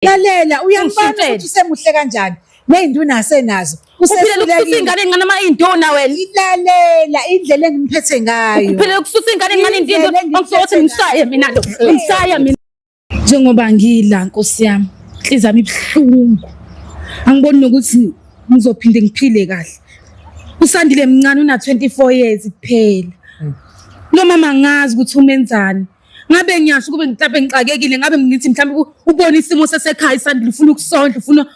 lalela uyambona Ushintsheni. ukuthi usemuhle kanjani ney'nduna asenazo uphilela ukususa usehlulekile ingane encane uma iyinduna wena ilalela indlela engimphethe ngayo uphilela ukususa ingane encane Indlela indinto engiphethe angifo ukuthi ngayo. ngimshaye mina lo ngimshaye mina njengoba ngila nkosi yami inhliziyo yami ibuhlungu angiboni nokuthi ngizophinde ngiphile kahle usandile mncane una-24 years kuphela lo mama angazi ukuthi umenzani ngabe ngiyasho kube mhlawumbe ngixakekile ngabe ngithi mhlawumbe ubona isimo sasekhaya isandla ufuna ukusondla ufuna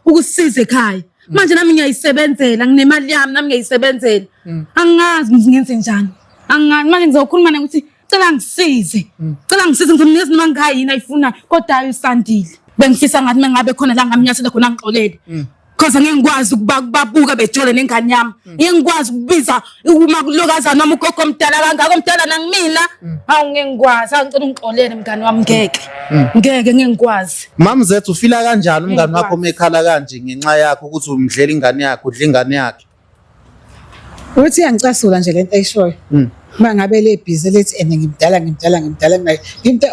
ukusiza ekhaya mm. manje nami ngiyayisebenzela nginemali yami nami ngiyayisebenzela mm. angazi ngithi ngenze njani angazi manje ngizokhuluma naye ukuthi cela ngisize mm. cela ngisize ngithi mina izinto mangikhaya yini ayifunayo kodwa ayo isandile bengifisa ngathi mengabe khona la ngamnyathela khona ngixolele cause ngeke ngikwazi ukuba kubabuka bejole nengane yami mm. ngeke ngikwazi ukubiza uma kulokazana noma ugogo omdala kangaka omdala nangimina mm. hawu ngeke ngikwazi angicela ungixolele mngane wami ngeke mm. ngeke ngeke ngikwazi mama zethu ufila kanjani umngane wakho uma ekhala kanje ngenxa yakho ukuthi umdlela ingane yakhe udla ingane yakhe Uthi angicasula nje lento ayishoyo. Mm. Uma ngabe le busy lethi and ngimdala ngimdala ngimdala ngayo. Ngimda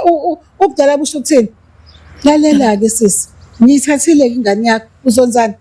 ubudala busho ukuthini? Lalela ke sisi. Ngiyithathile ingane yakho uzonzana.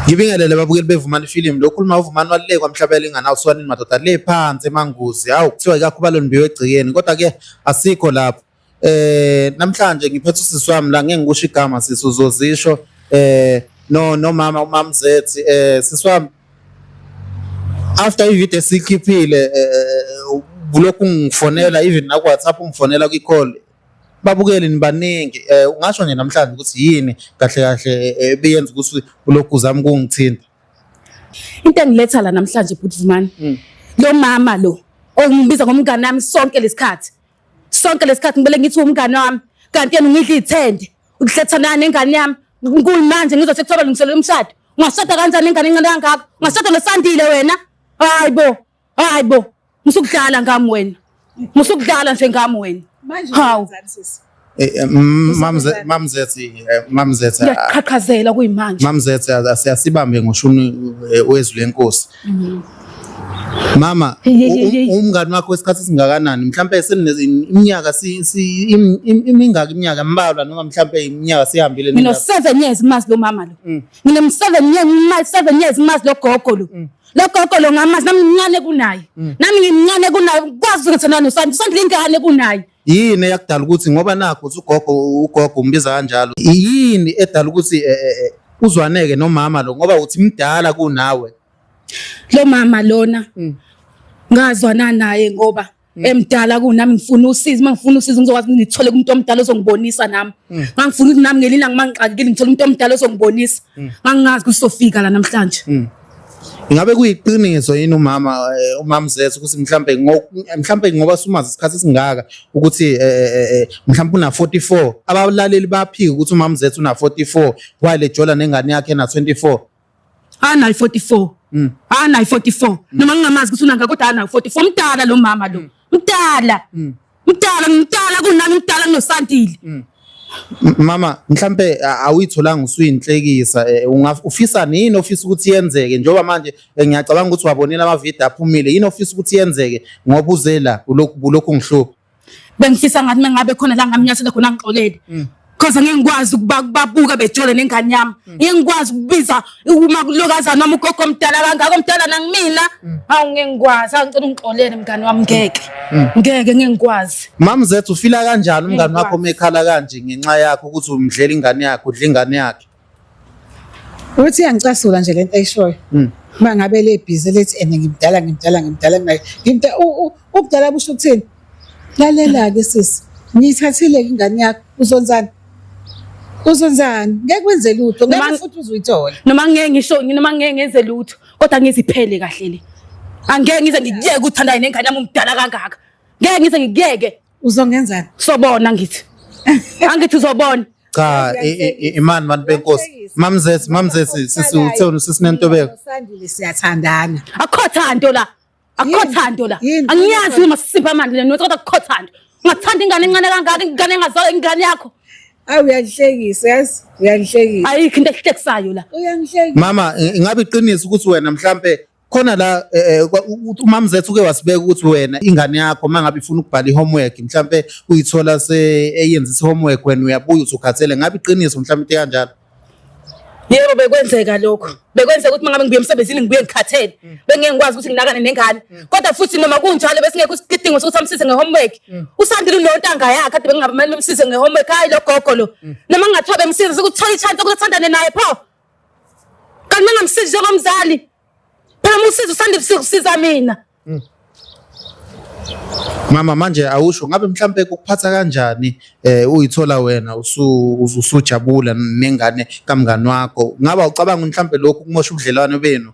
Ngibingelele babukeli bevumani film lokhu uma uvumani walile kwamhlabela ingane awuswanini madoda le phansi emanguzi hawu kuthiwa ikakhuba lonimbiwe egcikeni kodwa ke asikho lapho eh namhlanje ngiphethe usisi wami la ngeke ngikusho igama sisi uzozisho eh no nomama umamzethi eh sisi wami after ivideo sikhiphile eh, eh, eh, bulokhu ngifonela even naku WhatsApp ungifonela kwi call babukeli nibaningi eh ungasho nje namhlanje ukuthi yini kahle kahle eh, eh, ebiyenza ukuthi ulokhu uzama ukungithinta into engiletha la namhlanje bhuti Vumani hmm. lo mama lo ongibiza ngomngane wami sonke lesikhathi sonke lesikhathi ngibele ngithi umngane wami kanti yena ungidla ithende uhlethana nengane yami ngikulu manje ngizothi kuthiwa balungiselele umshado ungashada kanjani ingane incane kangaka ungashada nosandile wena hayi bo Hayi bo, musukudlala ngami wena. Musukudlala nje ngami wena. Manje Hawu. wenzani sisi? Eh, eh, mm, mamze- mamzethi eh, mamzethi ah, Ngiyaqhaqhazela kuyimanje. mamzethi ah, siyasibambe ngoshuni eh, wezwi lenkosi mama Hey, hey, hey, hey. u- u- umngani wakho wesikhathi esingakanani mhlawumbe seniminyaka imingaki iminyaka mbalwa noma mhlawumbe iminyaka sihambile Ngino nina- seven years mazi lo mama lo. Mm. Ngine seven years mazi seven years mazi lo gogo lo. lo gogo lo ngamazi nami ngimncane kunaye mm. nami ngimncane kunaye kwazi ukuthi nani usanda usanda lengane kunaye yini eyakudala ukuthi ngoba nakho uthi ugogo ugogo umbiza kanjalo yini edala ukuthi eh, eh, eh, uzwaneke nomama lo ngoba uthi mdala kunawe lo mama lona mm. ngazwana naye ngoba Mm. emdala kunami ngifuna usizi uma ngifuna usizi ngizokwazi ukuthi ngithole kumuntu omdala ozongibonisa nami mm. ngangifuna ukuthi nami ngelinye ilanga mangixakekile ngithole umuntu omdala ozongibonisa mm. ngangingazi ukuthi sofika la namhlanje Ingabe kuyiqiniso yini umama eh, umama Zeso ukuthi mhlambe mhlambe ngoba sumazi isikhathi singaka ukuthi eh, eh, mhlambe una 44 abalaleli baphika ukuthi umama Zeso una 44 wale jola nengane yakhe na 24 anayi 44 mm. anayi 44 mm. noma ngingamazi ukuthi unanga kodwa anayi 44 mdala lo mama lo mm. mdala mm. mdala mdala kunami mdala kunosandile mm. Mama mhlambe awuyitholanga usuyinhlekisa e, ufisa nini ofisa ukuthi yenzeke njengoba manje e, ngiyacabanga ukuthi wabonela ama video aphumile yini ofisa ukuthi yenzeke ngoba uze la ulokhu ulokhu ngihlupha bengifisa ngathi mengabe khona la ngamnyathela khona ngixolele mm. cause ngeke ngikwazi ukubabuka bejole nengane yami mm. ngeke ngikwazi ukubiza uma kulokaza noma ugogo omdala kangaka omdala nangimina mm. hawu ngeke ngikwazi angicela ungixolele mngane wami ngeke ngeke ngeke ngikwazi mama zethu ufila kanjani umngane wakho mekhala kanje ngenxa yakho ukuthi umdlela ingane yakho udla ingane yakhe Uthi yangicasula nje lento ayishoyo. Mm. Uma ngabe le busy lethi and ngimdala ngimdala ngimdala ngimdala. Ngimda ubudala busho ukuthini? Lalela ke sisi. Ngiyithathile ingane yakho uzonzana. Uzonzana ngeke wenze lutho ngeke futhi uzuyithola. Noma ngeke ngisho noma ngeke ngenze lutho kodwa ngiziphele kahle le. Angeke ngize ngikuyeke uthandane nengane yami umdala kangaka. Ngeke ngize ngikuyeke. uzongenzani sobona ngithi angithi uzobona cha i- i- i- imani bantu benkosi mamzesi mamzesi sisi utheni sisinentobeko sandile siyathandana akukho thando la akukho Yini? thando la Yini? angiyazi uma sisipha amandla lena kodwa akukho thando ungathanda ingane encane kangaka ingane engazalwa ingane yakho awu uyangihlekisa yazi uyangihlekisa ayikho into ehlekisayo la uyangihlekisa mama i- ingabe iqiniso ukuthi wena mhlampe khona la eh, eh, umamzethu uke wasibeka ukuthi wena ingane yakho uma ngabe ifuna ukubhala i-homework mhlawumbe uyithola seyenzisa i-homework wena uyabuya usukhathele ngabe iqiniso mhlawumbe into kanjalo yebo bekwenzeka lokho bekwenzeka ukuthi mangabe ngibuye emsebenzini ngibuye ngikhathele mm. bengeke ngikwazi ukuthi nginakane nengane mm. kodwa futhi noma kunjalo besingekho isidingo sokuthi amsize ngehomework mm. usandile unontanga yakhe kade bengingabe kumele umsize ngehomework hayi lo gogo lo noma ngingathiwa bemsize sekuthole ichance ukuthi athandane naye pho Kanti mengamsizi njengomzali. Phela uma usiza usanda ukusiza mina. Mm. Mama manje awusho ngabe mhlambe kukuphatha kanjani eh uyithola wena usujabula nengane kamngani wakho ngaba ucabanga mhlambe lokhu kumosha ubudlelwano benu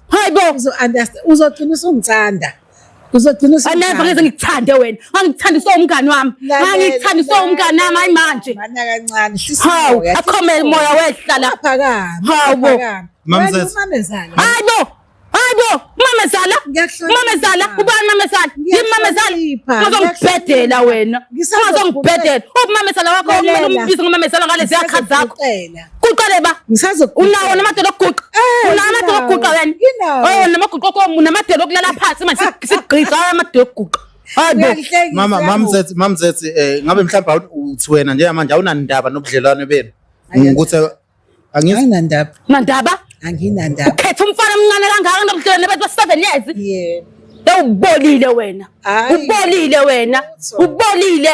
Hayi bo. Uzo understand. Uzogcina usungithanda. Uzogcina usungithanda. Aneva ngeke ngikuthande wena. Ngangikuthanda so umngani wami. Ngangikuthanda so umngani nami hayi manje. Mana kancane. Hawu, akhome moya wehla la. Phakama. Hawu bo. Mamzala. Hayi bo. Hayi bo. Mamezala. Mamezala. Ubani mamezala? Yimi mamezala. Ngizongibhedela wena. Ngizongibhedela. Ubumamezala wakho umuntu umbiza ngomamezala ngalezi yakha zakho. Kuqale ba. Ngisazo. Unawo namadoda okuguqa. Eh, Unawo namadoda okuguqa wena. Oh namaguqa komu namadoda okulala phansi manje sigqisa amadoda okuguqa. Hayibo. Mama mamzethi mamzethi eh ngabe mhlawumbe uthi wena njengamanje awunandaba nobudlelwane benu. Ngikuthi anginandaba. Nandaba? Anginandaba. Ukhetha umfana omncane kangaka nobudlelwane bethu 7 years. Yebo. Ubolile wena. Ubolile wena. Ubolile.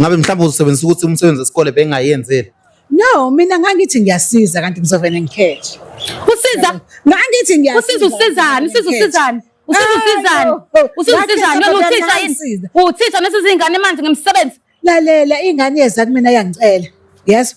Ngabe mhlawumbe uzosebenzisa ukuthi umsebenzi wesikole bengayenzeli. No, mina ngangithi ngiyasiza kanti ngizovele ngikhethe. Usiza ngangithi ngiyasiza. Usiza usizani? Usiza usizani? Usiza usizani? Usiza usizani? Noma uthisha yini? Uthisha nesizingane manje ngemsebenzi. Lalela ingane yeza kumina yangicela. Yes.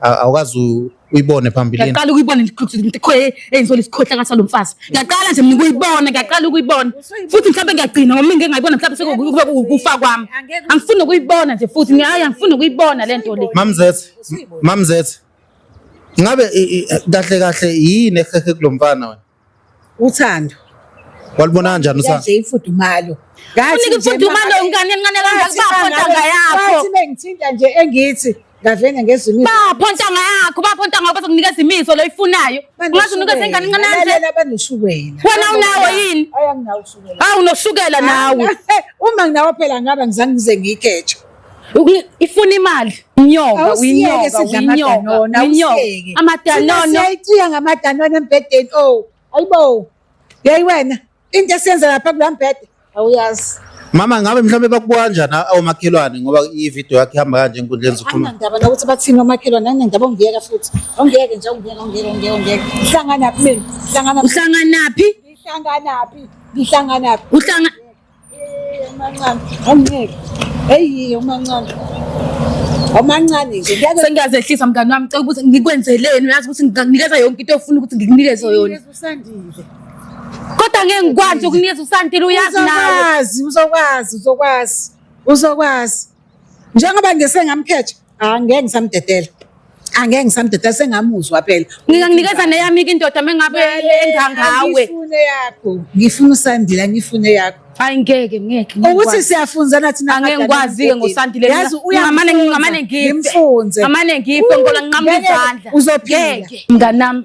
awukazi uyibone phambilini. Ngiyaqala ukuyibona ngikhoye eyinsola isikhohla kathi lo mfazi. Ngiyaqala nje mina ukuyibona, ngiyaqala ukuyibona. Futhi mhlawumbe ngiyagcina ngoba ngeke ngayibona mhlawumbe sekube ukufa kwami. Angifuni ukuyibona nje futhi ngiyaye angifuni ukuyibona le nto le. Mamzethe, mamzethe. Ngabe kahle kahle yini ehehe kulomfana wena? uthando walibona kanjani uthando nje ifudumalo ngathi ifudumalo ngane encane kangaka bapho ntanga yakho ngathi bengithinta nje engithi ngavene ngezimiso bapho ntanga yakho bapho ntanga yakho bazokunikeza imiso loyifunayo ungathi unikeza ingane encane kanje lalela banoshukela wena unawo yini awu noshukela nawe uma nginawo phela ngaba ngizange ngize ngikeje ifuna imali inyoka winyoka winyoka winyoka amadanono siyayithiya ngamadanono embhedeni o oh, ayibo yeyi wena into esiyenza lapha kula mbhede awuyazi mama ngabe mhlawumbe bakubuka kanjani omakhelwane ngoba ividiyo yakhe ihamba kanje enkundleni zokuxhumana anandaba nokuthi bathini omakhelwane anandaba ongiyeka futhi ongiyeke nje ongiyeka ongiyeka ongiyeka ongiyeka uhlanganaphi mina uhlanganaphi uhlanganaphi ngihlanganaphi ngihlanganaphi uhlanga omancane nje sengiyazehlisa mngani wami cela ukuthi ngikwenzeleni uyazi ukuthi ngikunikeza yonke into ofuna ukuthi ngikunikeze yona kodwa ngeke ngikwazi ukunikeza usandile uyazi nawe uzokwazi uzokwazi uzokwazi njengoba nje sengamkhetha angeke ngisamdedela angeke ngisamdedela sengamuzwa phela ngingakunikeza neyami ke indoda mengabe enza ngawe ngifune yakho ngifuna usandile ngifune yakho hayi ngeke ngeke ukuthi siyafunzana thina angeke ngikwazi ke ngosandile yazi uyamane ngamane ngimfunze ngamane ngiphe ngola nqamuka izandla uzophila mnganami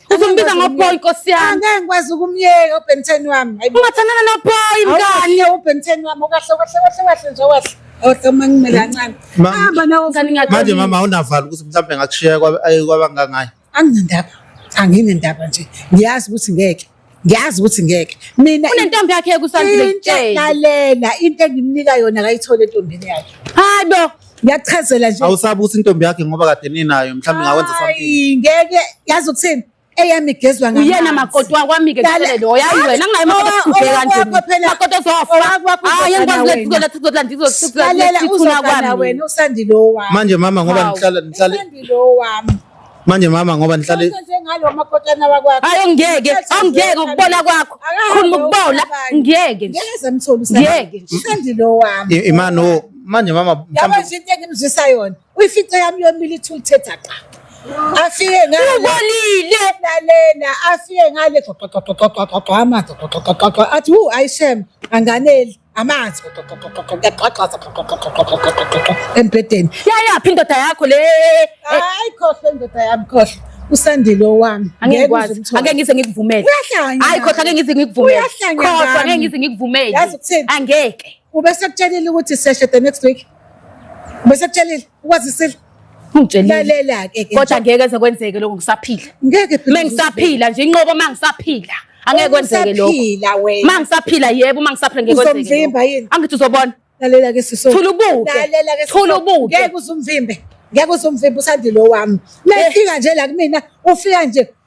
Uzombiza ngoboy nkosi yami. Angeke ngikwazi ukumyeka uBenten wami. Ungathandana noboy mngani. Awuye uBenten wami okahle okahle okahle okahle nje okahle. Awusamangimela kancane. Hamba nawo ngani ngakho. Manje mama awunavala ukuthi mhlawumbe ngakushiya kwabangangayo. Anginendaba. Anginendaba nje. Ngiyazi ukuthi ngeke. ngiyazi ukuthi ngeke mina unentombi yakhe kusandile kutshela lalela into engimnika yona akayithole entombini yakhe hayi bo ngiyachazela nje awusabi ukuthi intombi yakhe ngoba kade ninayo mhlawumbe ngawenza something ngeke yazi ukuthini eyami igezwa ngami uyena makoti wakwami ke kule lo yayi wena ngayi makoti ubheka nje makoti ozofa hayi ngikwazi lethukela thukela ndizosithula wena usandile owami manje mama ngoba nihlala nihlala usandile owami manje mama ngoba nihlale hayi ngeke awungeke ukubona kwakho khuluma ukubona ngeke ngeke imani o manje mama yabo nje into engimzwisa yona uyifice yami yomile ithi ulithetha qa afike ngale ubolile lalena afike ngale athi wu ayishem anganeli amanzi kuyagqagqaza embhedeni yayaphi indoda yakho le hayi khohlwa indoda yami khohlwa usandile owami angeke ngize ngikuvumele hayi khohlwa angeke ngize ngikuvumele khohlwa angeke ngize ngikuvumele angeke ubesekutshelile ukuthi seshe the next week ubesekutshelile Ukwazisile. Ngitshelile. Lalela ke ke. Kodwa ngeke eze kwenzeke lokho ngisaphila. Ngeke phela. Mengisaphila nje inqobo mangisaphila. Angeke kwenzeke lokho. Usaphila wena. Mangisaphila yebo mangisaphila ngeke kwenzeke. Uzomvimba yini? Angithi uzobona. Lalela ke siso. Thula ubuke. Lalela ke siso. Thula ubuke. Ngeke uzumvimbe. Ngeke uzumvimbe usandile owami. Mefika nje la kumina ufika nje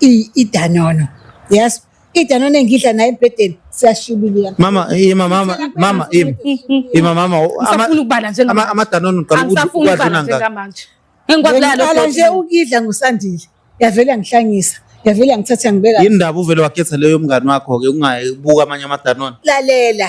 I- idanono yes idanono engidla naye embhedeni siyashibilika mama ima mama mama ima ima mama u- ama- Ngisafuna ukubala njengamanje. ama- amadanono uqala ukuthi angisafuni uwadla ukubala unangaki njengamanje engikwazi laya Ngiqala nje lodoti ukudla ngusandile yavele yangihlangisa yavele yangithatha yangibeka yini ndaba uvele wakhetha leyo mngani wakho-ke ungabuka amanye amadanono lalela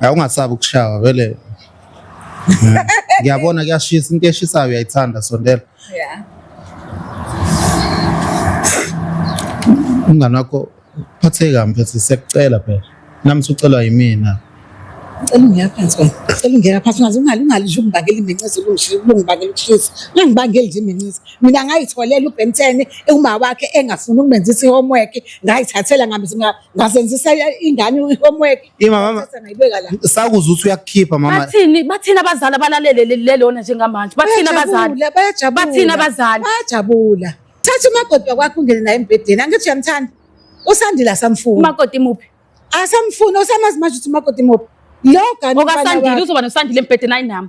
Awungasabi ukushawa vele. Ngiyabona kuyashisa into eshisayo uyayithanda sondela. Yeah. Umngane wakho phatheka mfethu sekucela phela. Nami sucelwa yimina. Cela ungena phansi wena. Cela ungena phansi ungaze ungali ungali nje ungibangela imincisi ulungishile ulungibangela ukushisa. Ungibangela nje imincisi. Mina ngayitholela uBenten uma wakhe engafuni ukumenzisa ihomework ngayithathela ngamizima ngazenzisa ingane ihomework Ima mama Sasa ngayibeka la. sakuzwa ukuthi uyakukhipha mama. Bathini bathini abazali abalalele le- lelona njengamanje. Bathini abazali. Bayajabula, bayajabula. Bathini abazali. Bayajabula. Thatha umakoti wakwakho ungene naye embhedeni. Angithi uyamthanda. Usandile asamfuni. Umakoti muphi? Asamfuni osamazi manje ukuthi umakoti muphi. Lo gani Okasandile uzoba nosandile embhedeni ayinami.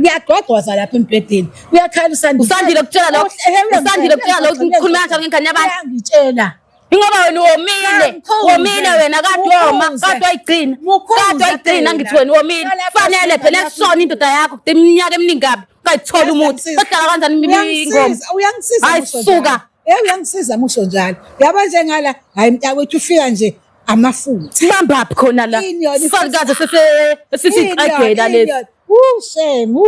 kuyagqogqoza lapha embhedeni kuyakhala usandile usandile kutshela lokho usandile kutshela lokho ukhuluma kanjani ngengane yabantu angitshela ingoba wena womile womile wena kade woma kade wayigcina kade wayigcina ngithi wena womile fanele phela kusona indoda yakho kude iminyaka eminingi kabi ungayitholi umuthi ohlala kanjani ingoma hayi suka uyangisiza musho njalo yaba njengala hayi mntakwethu ufika nje amafutha bambaphi khona la salukaze sesisiqagela lesi ushame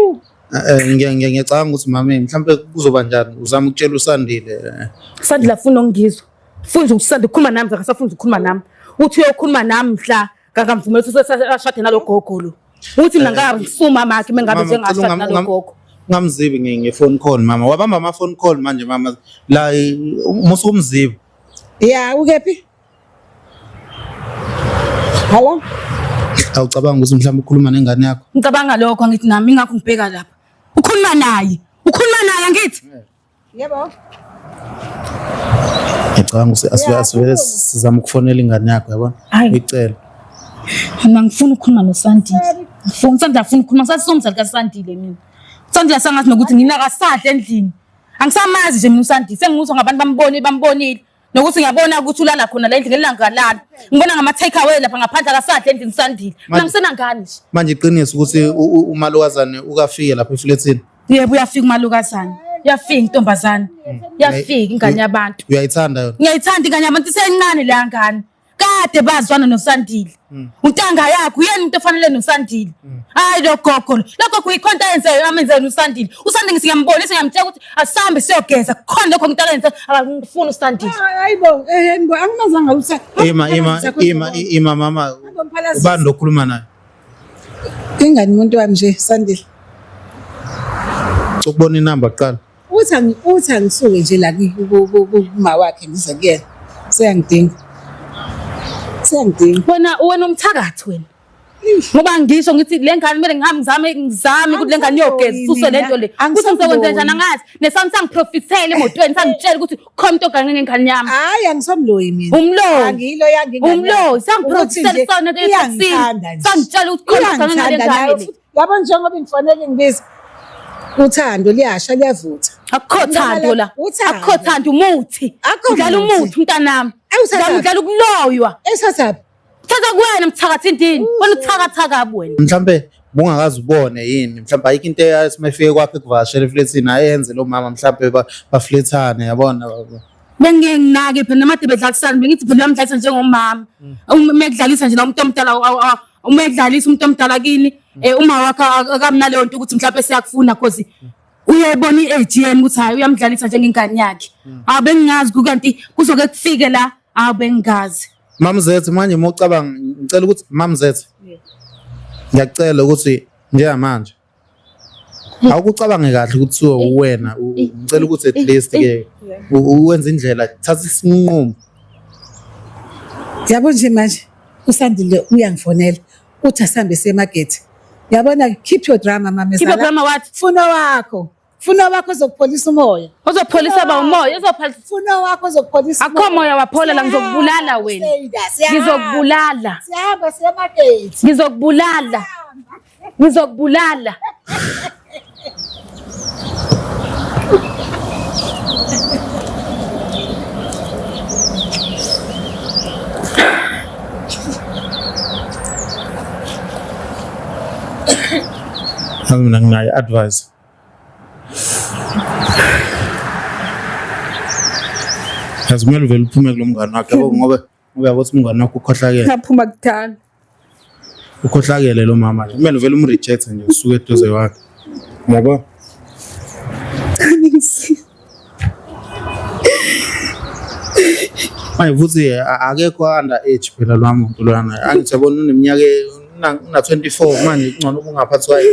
eh, ngiyacabanga ukuthi mame mhlawumbe kuzoba njani uzama ukutshela usandile eh. sandile afuna ongizwa funza ukusanda ukhuluma nami zakasafunza ukhuluma nami uthi uyokhuluma nami mhla ngakamvumelisa usashade nalogogo lo uthi mina eh, ngabisuma makhe mengabe njengashade nalogogo ngamzibi ngefoni call mama wabamba ama phone call manje mama la umusukumzibi ya ukephi Hello? Awucabanga ukuthi mhlawumbe ukhuluma nengane yakho? Ngicabanga lokho angithi nami ingakho ngibheka lapha. Ukhuluma naye. Ukhuluma naye angithi? Yebo. Ngicabanga ukuthi asivele asivele sizama ukufonela ingane yakho yabona? Uyicela. Mina ngifuna ukukhuluma noSandile. Ngifuna Sandile afuna ukukhuluma sasizomzali kaSandile mina. Sandile sangathi nokuthi nginakasadla endlini. Angisamazi nje mina uSandile sengimuzwa ngabantu bambone bambonile. nokuthi ngiyabona ukuthi ulala khona la endlini elangalala ngibona ngama take away lapha ngaphandle akasadle endlini sandile mina ngisena ngani nje manje iqiniso ukuthi umalukazane ukafike lapha eflethini yebo uyafika umalukazane uyafika intombazane uyafika ingane yabantu uyayithanda yona ngiyayithanda ingane yabantu isencane le ngane kade bazwana nosandile mm. untanga yakho uyena umuntu ofanele nosandile mm. hayi lo gogo lo gogo yikho into ayenzayo amenzela usandile usandile ngisiyambonisa ngiyamtshela ukuthi asihambe siyogeza kukhona lokho umuntu akayenza akangifuni usandile ah, hayi bo eh bo anginazanga usa ima ima ima ima mama ubani lokhuluma naye ingani umuntu wami nje sandile ukubona inamba kuqala uthi angi- uthi angisuke nje la ku- ku- ku- ku- kuma wakhe ngize kuyena seyangidinga seyangidinga wena wena umthakathi wena ngoba ngisho ngithi le ngane kumele ngihambe ngizame ngizame ukuthi le ngane iyogeza isuswe le nto le Angisaboni. kuthi ngizokwenza njani angazi nesami sangiprofithele emotweni sangitshela ukuthi khona into ogane ngengane yami hayi angisomloyi mina Umloyi. angiyilo yange umloyi sangiprofithele sona etekisini sangitshela ukuthi khona ogane ngengane yami yabo njengoba ngifanele ngibiza uthando liyasha liyavutha akukho thando la akukho thando umuthi udlala umuthi mntanami udlala ukuloywa esasaphi thatha kuwena mthakathi ndini wena uthakatha kabi wena mhlampe bungakazi ubone yini mhlawumbe ayikho into eyasimefike kwakhe kuvashela eflethini ayenze lo mama mhlawumbe baflethane yabona bengeke nginake phela namade bedlalisana bengithi phela uyamdlalisa njengomama uma mm. kudlalisa nje la umuntu omdala uma edlalisa umuntu omdala kini eh uma wakhe akamnaleyo nto ukuthi mhlawumbe siyakufuna cause uyayibona i-age yena ukuthi hayi uyamdlalisa njengengane yakhe hawu bengingazi kukanti kuzoke kufike la hawu bengingazi mamzethe manje uma ucabanga ngicela ukuthi mamzethe ngiyacela ukuthi njengamanje awukucabange kahle kuthiwa uwena ngicela ukuthi at least ke uwenze indlela thatha isinqumo yabo nje manje usandile uyangifonela uthi asambe semagethi yabona keep your drama mamezala keep your drama what funa wakho Funa wakho uzokupholisa umoya. Uzopholisa ba umoya, uzopholisa. Funa wakho uzokupholisa. Akho moya waphole la ngizokubulala wena. Ngizokubulala. Sihamba siya market. Ngizokubulala. Ngizokubulala. Mina nginayo advice. azimele uvele uphume kulo mngane wakhe yabo ngoba ngoba yabo ukuthi umngane wakho ukhohlakele ngaphuma kudala ukhohlakele lo mama nje kumele uvele umreject nje usuke eduze wakhe ngoba manje futhi akekho under age phela lwa muntu lwana angithi yabona uneminyaka una 24 manje kungcono ubungaphathi kwayo